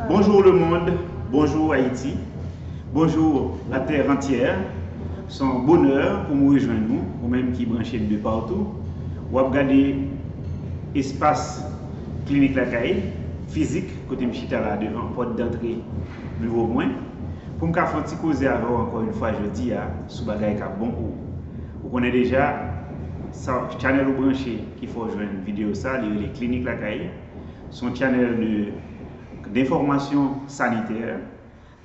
Bonjour le monde bonjour Haïti bonjour la terre entière son bonè pou m rejwenn ou ou menm ki branche m de partou wap gade espas klinik lakay fizik kote m chita la devan pòt dantre biwo mwen pou m ka fè yon ti koze avè w ankò yon fwa jodi a sou bagay kap bon pou ou ou konnen deja sa channel ou branche ki fè w jwenn video sa li rele klinik lakay. Se yon channel de d'information sanitaire,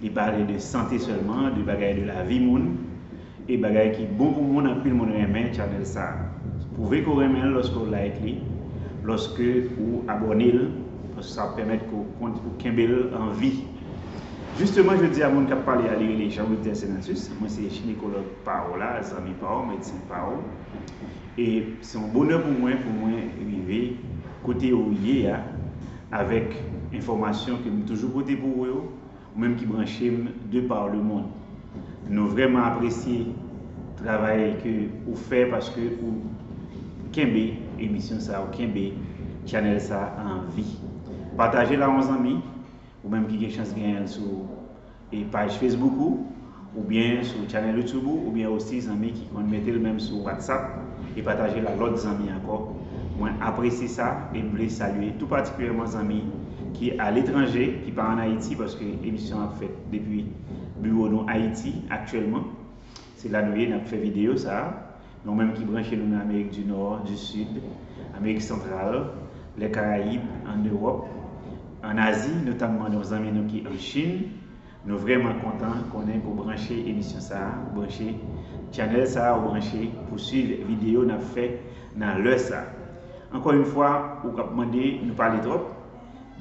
li pale de sante sèlman, de bagay de lavi moun, e bagay ki bon pou moun anpil moun renmen channel sa. Pwouve ke w renmen l lòske w like li, lòske ou abòne l, paske sa ap pèmèt ke w kenbe l an vi. Jisteman jodi a moun k ap pale a li rele Jean Wilder Senatus, mwen se jinekològ pa w la, zanmi pa w, medsen pa w. E se yon bonè pou mwen pou mwen rive kote ou ye a avèk enfòmasyon ke m toujou pote pou ou yo, ou menm ki branche m de par le mond. Nou vrèman apresye travay ke ou fè paske ou kenbe emisyon sa, ou kenbe channel sa an vi. Pataje l a yon zanmi, ou menm ki gen chans genyen l sou. e paj Facebook ou oubyen sou channel YouTube ou oubyen osi zanmi ki konn metel menm sou WhatsApp e patajel a lòt zanmi ankò mwen apresye sa e m vle salye tou patikilyèman zanmi ki a letranje ki pa an Ayiti paske emisyon an ap fèt depi biwo nou Ayiti aktyèlman. Se la nou ye nap fè video sa. Men ou menm ki branche nou nan Amerik di Nò, di Sid, Amerik Santral, lè Karayib, an Ewòp, an Azi, notamman nou zanmi nou ki an Chin, nou vrèman kontan konnen ke w branche emisyon sa, ou branche Channel sa, ou branche pou swiv video nap fè nan lè sa. Ankò yn fwa ou kap mande nou pale twòp,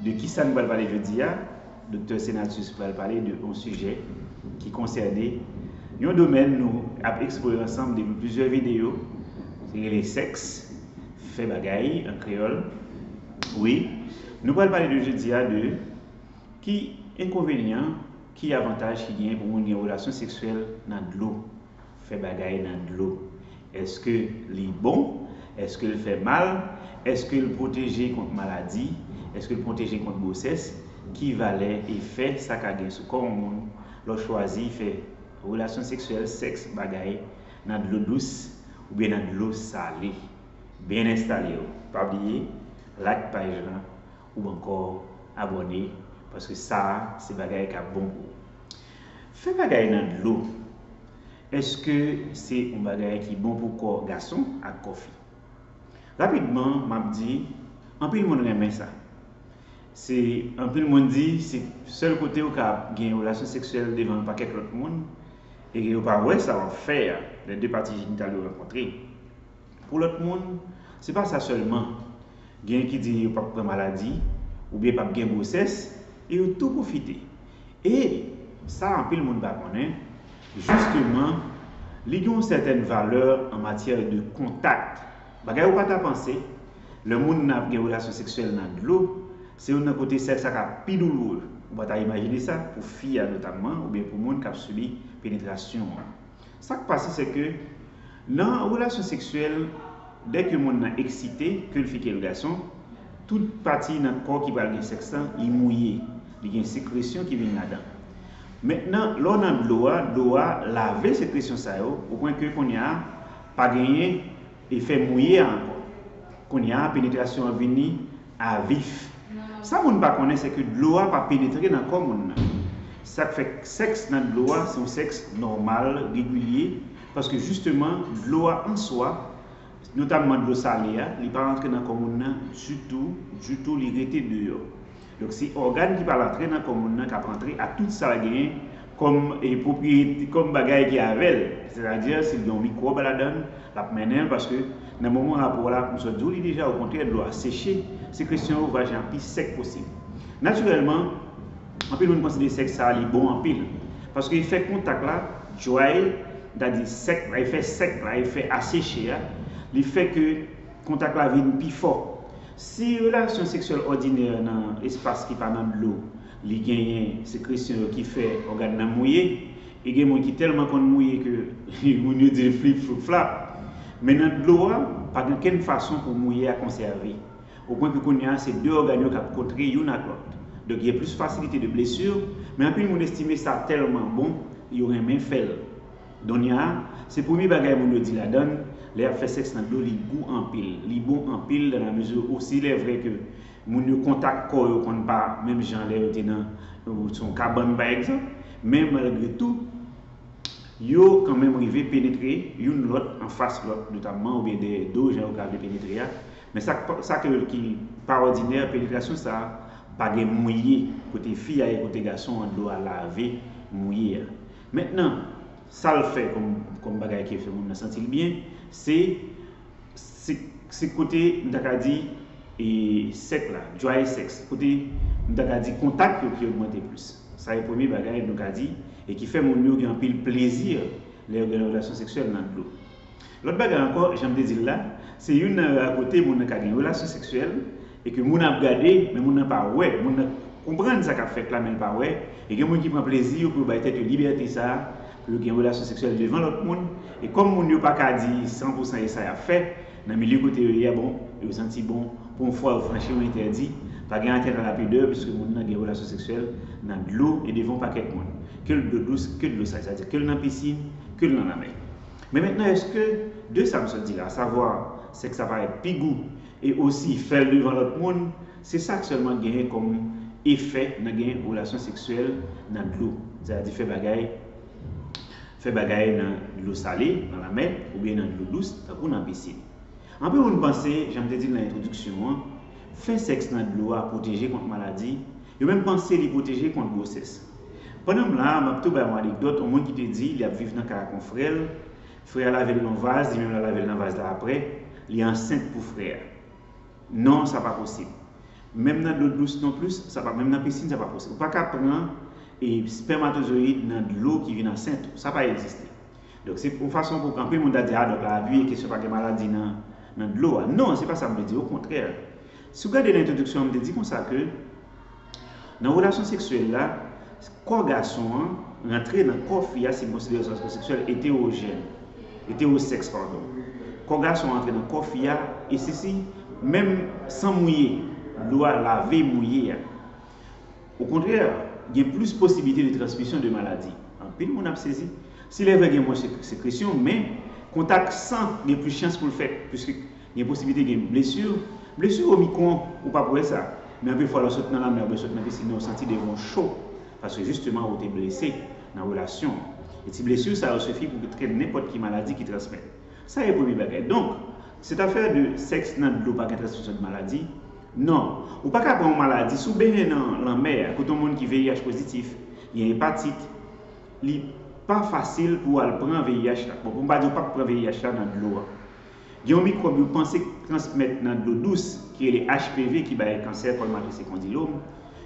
de kisa nou pral pale jodi a? Doktè Senatus pral pale de yon sijè ki konsène yon domèn nou ap eksplore ansanm depi plizyè videyo ki rele sèks, fè bagay an kreyòl wi. Nou pral pale de jodi a de ki enkonvenyan, ki avantaj ki genyen pou moun gen relasyon seksyèl nan dlo. Fè bagay nan dlo. Èske li bon? Èske l fè mal? Èske l pwoteje kont maladi? Èske l pwoteje kont gwosès? Ki valè efè sa ka gen sou kò yon moun lè w chwazi fè relasyon seksyèl, sèks, bagay, nan dlo dous oubyen nan dlo sale? Byen enstale w. Pa bliye like paj lan oubyen ankò abòne paske sa a se bagay k ap bon pou ou. Fè bagay nan dlo, èske se yon bagay ki bon pou kò gason ak kò fi? Rapidman m ap di, anpil moun renmen sa. Se anpil moun di se sèl kote yo ka gen relasyon seksyèl devan yon pakèt lòt moun e ke yo pa wè sa w ap fè a lè de pati jenital yo rankontre. Pou lòt moun, se pa sa sèlman. Genyen ki di yo pap pran maladi, oubyen pap gen gwosès, e yo tou pwofite. E, sa anpil moun pa konnen, jisteman, li gen yon sètèn valè an matyè de kontak. Bagay ou pa ta panse, lè moun nan ap gen relasyon seksyèl nan dlo, se youn nan kote sèks la ka pi douloure. Ou pa ta imajine sa, pou fi a notamman, oubyen pou moun k ap sibi penetrasyon an. Sa k pase se ke nan relasyon seksyèl, dè ke moun nan eksite, ke l fi ke l gason, tout pati nan kò ki pral gen sèks lan, li mouye. Li gen sekresyon ki vin ladan. Mentnan, lè w nan dlo a, dlo a lave sekresyon sa yo, o pwen ke kounye a, pa genyen E fè mouye a ankò. Kounye a penetrasyon an vini a vif. Sa moun pa konnen se ke dlo a pa penetre nan kò moun nan. Sa k fè sèks nan dlo a se yon sèks nòmal, regilye, paske jisteman dlo a an swa, notamman dlo sale a, li pa rantre nan kò moun nan ditou, ditou, li rete deyò. Donk se ògàn ki pral antre nan kò moun nan k ap antre ak tout sa l genyen kòm pwopriyete, kòm bagay ki avè l. Sètadi, si l gen yon mikwòb ladan l, l ap mennen l paske nan moman rapò la, m sot di w li deja okontrè dlo a seche, sekresyon yo, vajen an pi sèk posib. Natirèlman, anpil moun konsidere sèks sa a li bon anpil paske efè kontak la, dry, sètadi efè sèk la, efè aseche a, li fè ke kontak la vin pi fò. Si relasyon seksyèl òdinè nan espas ki pa nan dlo, li genyen sekresyon yo ki fè ògàn nan mouye, e gen moun ki tèlman konn mouye ke moun yo di l flip floup flap. Men nan dlo a, pa gen okenn fason pou mouye a konsève. O pwen ke kounye a se 2 ògàn yo k ap kontre youn ak lòt. Donk gen plis fasilite de blessure, men anpil moun estime sa tèlman bon, yo renmen fè l. Donya, Se premye bagay moun yo di ladann, lè yap fè sèks nan dlo li gou anpil, li bon anpil dans la mesure où s'il est vrai que moun yo kontak kò yo konn pa menm jan lè yo te nan yon kabann pa egzanp, men malgre tou yo kan menm rive penetre youn lòt an fas lòt notamman oubyen dèyè do jan yo ka vle penetre a, men sa sa ke ki pa òdinè penetrasyon sa pa gen mouye kote fi a ye kote gason an dlo a lave mouye a. Mentnan, sa l fè kòm bagay ki fè moun nan santi l byen, se kote m ta ka di sèk la, dry sex, kote m ta ka di kontak yo ki ogmante plis. Sa e premye bagay nou ka di e ki fè moun yo gen anpil plezi lè yo gen yon relasyon seksyèl nan dlo. Lòt bagay ankò, jan m te di l la, se youn nan ra kote moun nan ka gen relasyon seksyèl e ke moun nan ap gade men moun nan pa wè, moun nan konprann sa k ap fèt la men l pa wè, e gen moun ki pran plezi yo pou yo bay tèt yo libète sa pou yo gen relasyon seksyèl devan lòt moun, e kòm moun yo pa ka di san pou san e sa y ap fè nan milye kote yo ye a bon, yo santi bon pou yon fwa yo franchi yon entèdi, pa gen atènt a la pidè piske moun nan gen relasyon seksyèl nan dlo e devan yon pakèt moun, ke l dlo dous, ke dlo sal, sa vle di ke l nan pisin, ke l nan lanmè. Men mentnan eske de sa m sot di la, asavwa sèks la parèt pi gou e osi fè l devan lòt moun, se sa k sèlman genyen kòm efè nan gen relasyon seksyèl nan dlo, sètadi fè bagay fè bagay nan dlo sale, nan lamè, oubyen nan dlo dous, tankou nan pisin? Anpil moun panse, jan m te di l nan entwodiksyon an, fè sèks nan dlo a pwoteje kont maladi, yo menm panse li pwoteje kont gwosès. Pandan m la a, m ap tou bay yon anekdòt, yon moun ki te di li ap viv nan kay ak yon frè l, frè a lave l nan yon vaz, li menm l al lave l nan vaz la aprè, li ansent pou frè a. Non, sa pa posib. Menm nan dlo dous non plis, sa pa, menm nan pisin sa pa posib. Ou pa ka pran e spèmatozoyid nan dlo ki vin ansent ou. Sa pa egziste. Donk se yon fason pou anpil moun ta di a donk la abiye kesyon pa gen maladi nan nan dlo a. Non, se pa sa m te di, okontrè. Si w gade nan entwodiksyon an m te di konsa ke, Nan relasyon seksyèl la, kò gason an rantre nan kò fi a si n konsidere sa kò seksyèl eterojèn, eterosèks padon. Kò gason an rantre nan kò fi a e sisi menm san mouye, dlo a lave mouye a. Okontrè, gen plis posiblite de transmisyon de maladi. Anpil moun ap sezi. Si lè vre gen mwens sekresyon men kontak san gen plis chans pou l fèt. Gen posiblite gen blesu. Blesu omicron ou pap wè sa. Men anpil fwa lè w sot nan lanmè oubyen w sot nan piscine nan ou santi devan w cho paske jisteman ou te blese nan relasyon. E ti blesu sa yo sufi pou kreye nenpòt ki maladi ki transmèt. Sa e premye bagay. Donk, cette affaire de sèks nan dlo pa gen transmisyon de maladi. Non. Ou pa ka pran yon maladi si w benyen nan lanmè a kote yon moun ki VIH pozitif, gen epatit, li pa fasil pou w al pran VIH la. Bon pou m pa di ou pap pran VIH la nan dlo a. Gen yon mikwòb yo panse k transmèt nan dlo dous ki rele HPV ki bay kansè kòl matris e kondilom,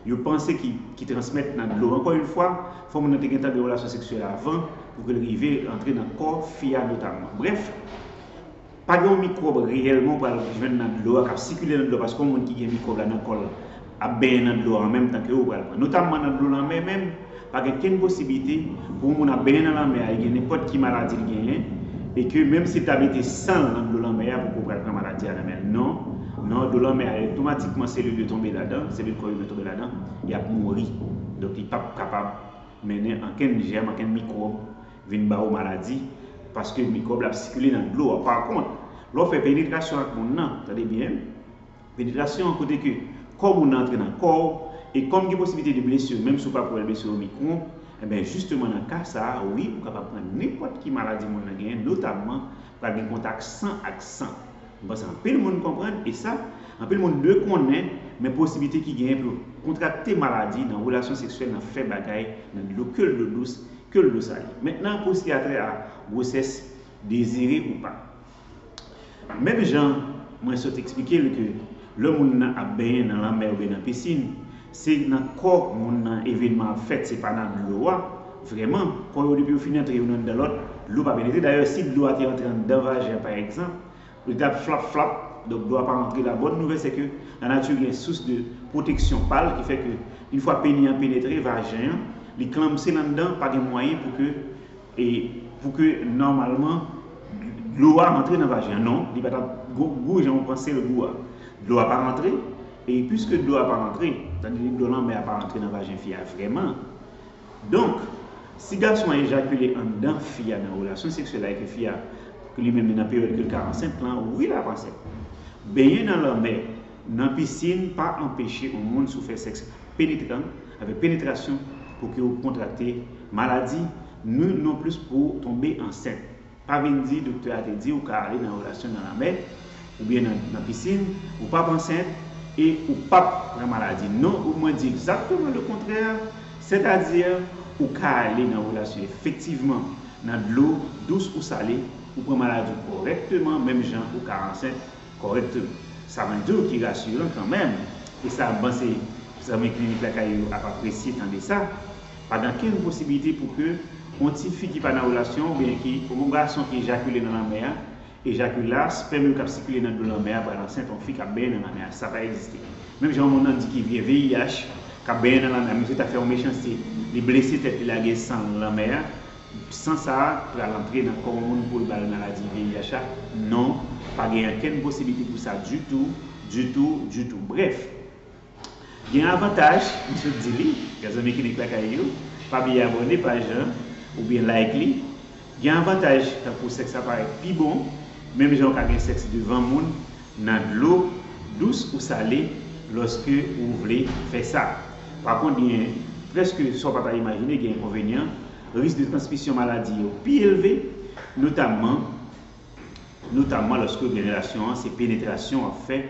yo panse ki ki transmèt nan dlo. Ankò yon fwa, fò moun nan te gentan gen relasyon seksyèl avan pou ke l rive antre nan kò fi a notamman. Brèf, pa gen yon mikwòb reyèlman ou pral jwenn nan dlo a, k ap sikile nan dlo a paske yon moun ki gen mikwòb la nan kò l, ap benyen nan dlo a an menm tan ke ou pral pran. Notamman nan dlo lanmè menm, pa gen kenn posiblite pou yon moun ap benyen nan lanmè a e gen nenpòt ki maladi li genyen e ke menm si l ta mete san l nan dlo lanmè a poko pral pran maladi a nan men l. Non, non, dlo lanmè a otomatikman selil yo tonbe ladan, selil kò imen tonbe ladan, y ap mouri. Donk li p ap kapab mennen ankenn jèm, ankenn mikwòb vin ba ou maladi paske mikwòb la ap sikile nan dlo a. Pakont, lè w fè penetrasyon ak moun nan, tande byen, Penetrasyon, kote ke kò moun nan antre nan kò w, e kòm gen posiblite de blesir menm si w pa pwèl blesir omicron, enben jisteman nan ka sa a, wi ou kapab pran nenpòt ki maladi moun nan genyen notamman pral gen kontak san ak san. M panse anpil moun konprann, e sa, anpil moun dwe konnen, men posiblite ki genyen pou yo kontrakte maladi nan relasyon seksyèl nan fè bagay nan dlo ke l dlo dous, ke l dlo sale. Mentnan pou siyatrè a gwosès dezire ou pa. Menm jan mwen sot eksplike l ke lè moun nan ap benyen nan lanmè oubyen nan pisin, se nan kò moun nan evenman ap fèt se pa nan dlo a, vrèman, kò yo depi yo fin antre youn anndan lòt, dlo pa penetre, dayè si dlo a te antre anndan vajen pa egzanp, li tap flap flap, donk dlo a pa antre, la bòn nouvèl se ke lanati gen sous de pwoteksyon pa l ki fè ke yn fwa peni an penetre vajen an, li klamse l anndan, pa gen mwayen pou ke E pou ke nòmalman dlo a rantre nan vajen an. Non, li pa t ap gou jan ou panse l gou a. Dlo a pa rantre, e piske dlo a pa rantre, sa vle di dlo lanmè a pa rantre nan vajen fi a vrèman. Donk, si gason an ejakile anndan fi a nan relasyon seksyèl la e ke fi a li menm li nan peryòd ke l ka ansent lan, wi l ap ansent. Benyen nan lanmè nan pisin pa anpeche yon moun sou fè sèks penetran, avèk penetrasyon, pou ke ou kontrakte maladi, ni non plis pou ou tonbe ansent. Pa vin di doktè a te di ou ka ale nan relasyon nan lamè, oubyen nan nan pisin, ou pap ansent, e ou pap pran maladi. Non, ou mwen di egzakteman le kontrè, sètadi ou ka ale nan relasyon efektivman nan dlo dous ou sale, ou pran maladi ou kòrèkteman menm jan ou ka ansent, Kòrèk tou. Sa mwen di w ki rasiran kanmenm, e sa m panse zanmi Klinik Lakay yo ap apresye tande sa, pa gen okenn posibilite pou ke yon ti fi ki pa nan relasyon oubyen ki yon gason ki ejakile nan lanmè a, ejakila, spèm yo k ap sikile nan dlo lanmè a pral ansent yon fi k ap benyen nan lanmè a. Sa pa egziste. Menm jan yon moun nan di ki vye VIH k ap benyen nan lanmè a, misye ta fè yon mechanste, li blese tèt li lage san l lanmè a, San sa a pral antre nan kò moun poul bal maladi VIH la? Non, pa gen ankenn posiblite pou sa ditou, ditou, ditou. Brèf, gen yon avantaj m sot di li, mèzanmi Klinik Lakay yo, pa bliye abòne paj lan oubyen like li, gen avantaj tankou sèks la parèt pi bon, menm jan ou ka gen sèks devan moun, nan dlo, dous ou sale, lòske ou vle fè sa. Pa kont gen, prèske sa w pa ta imajine, gen enkonvenyan, risk de transmisyon maladi yo pi elve, notamman, notamman lòske ou gen relasyon an se penetrasyon w ap fè,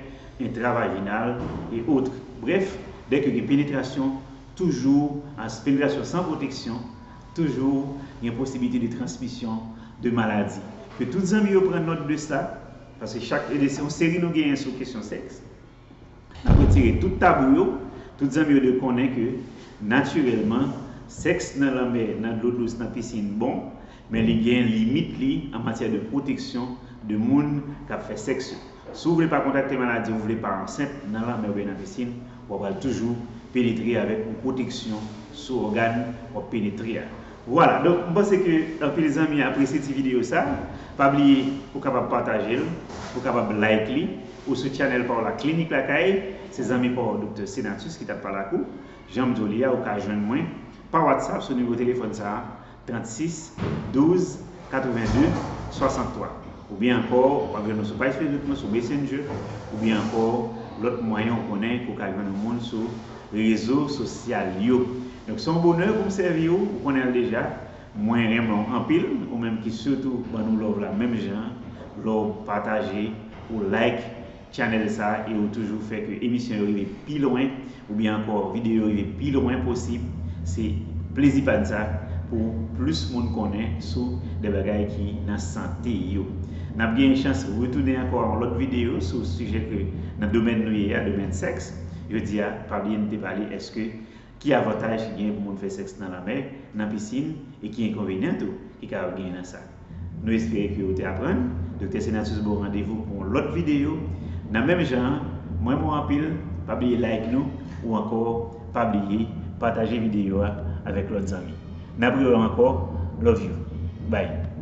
entravajinal et autres. Brèf, dè ke gen penetrasyon, toujou, ans, penetrasyon san pwoteksyon, toujou gen posibilite de transmisyon de maladi. Ke tout zanmi yo pran nòt de sa. Paske chak ede se yon seri nou genyen sou kesyon sèks. N ap retire tout tabou yo, tout zanmi yo dwe konnen ke natirèlman sèks nan lanmè, nan dlo dous, nan pisin bon, men li gen limit li an matyè de pwoteksyon de moun k ap fè sèks yo. Si w vle pa kontakte maladi, w vle pa ansent nan lanmè oubyen nan pisin, w a pral toujou penetre avèk yon pwoteksyon sou ògàn w ap penetre a. Vwala donk m panse ke anpil zanmi apresye ti video sa, pa bliye ou kapab pataje l, ou kapab like li, ou sou channel pa w la Klinik Lakay, se zanmi pa w Doktè Senatus ki tap pale ak ou, janm di w li a ou ka jwenn mwen pa WhatsApp sou nimewo telefòn sa 36 12 82 63 oubyen ankò wap jwenn mwen sou paj Facebook mwen sou Messenger oubyen ankò lòt mwayen ou konnen ke w ka jwenn yon moun sou Rezo sosyal yo. Donk se yon bonè pou m sèvi ou, ou konnen l deja. Mwen renmen w anpil, ou menm ki sitou ban nou love la menm jan an, lè w pataje, ou like channel sa e ou toujou fè ke emisyon yo rive pi lwen oubyen ankò videyo yo rive pi lwen posib, se plezi pa n sa pou plis moun konnen sou de bagay ki nan sante yo. N ap gen chans retounen ankò yon lòt videyo sou sijè ke nan domèn nou ye a, domèn sèks. Jodi a, pa bliye nou te pale eske ki avantaj ki genyen pou moun fè sèks nan lanmè, nan pisin e ki enkonvenyan tou ki kapab genyen nan sa. Nou espere ke ou te aprann. Doktè Senatus ba w randevou pou yon lòt videyo nan menm jan an. Mwen renmen w anpil. Pa bliye like nou ou ankò pa bliye pataje videyo a avèk lòt zanmi. N ap rewè w ankò. Love you. Bye.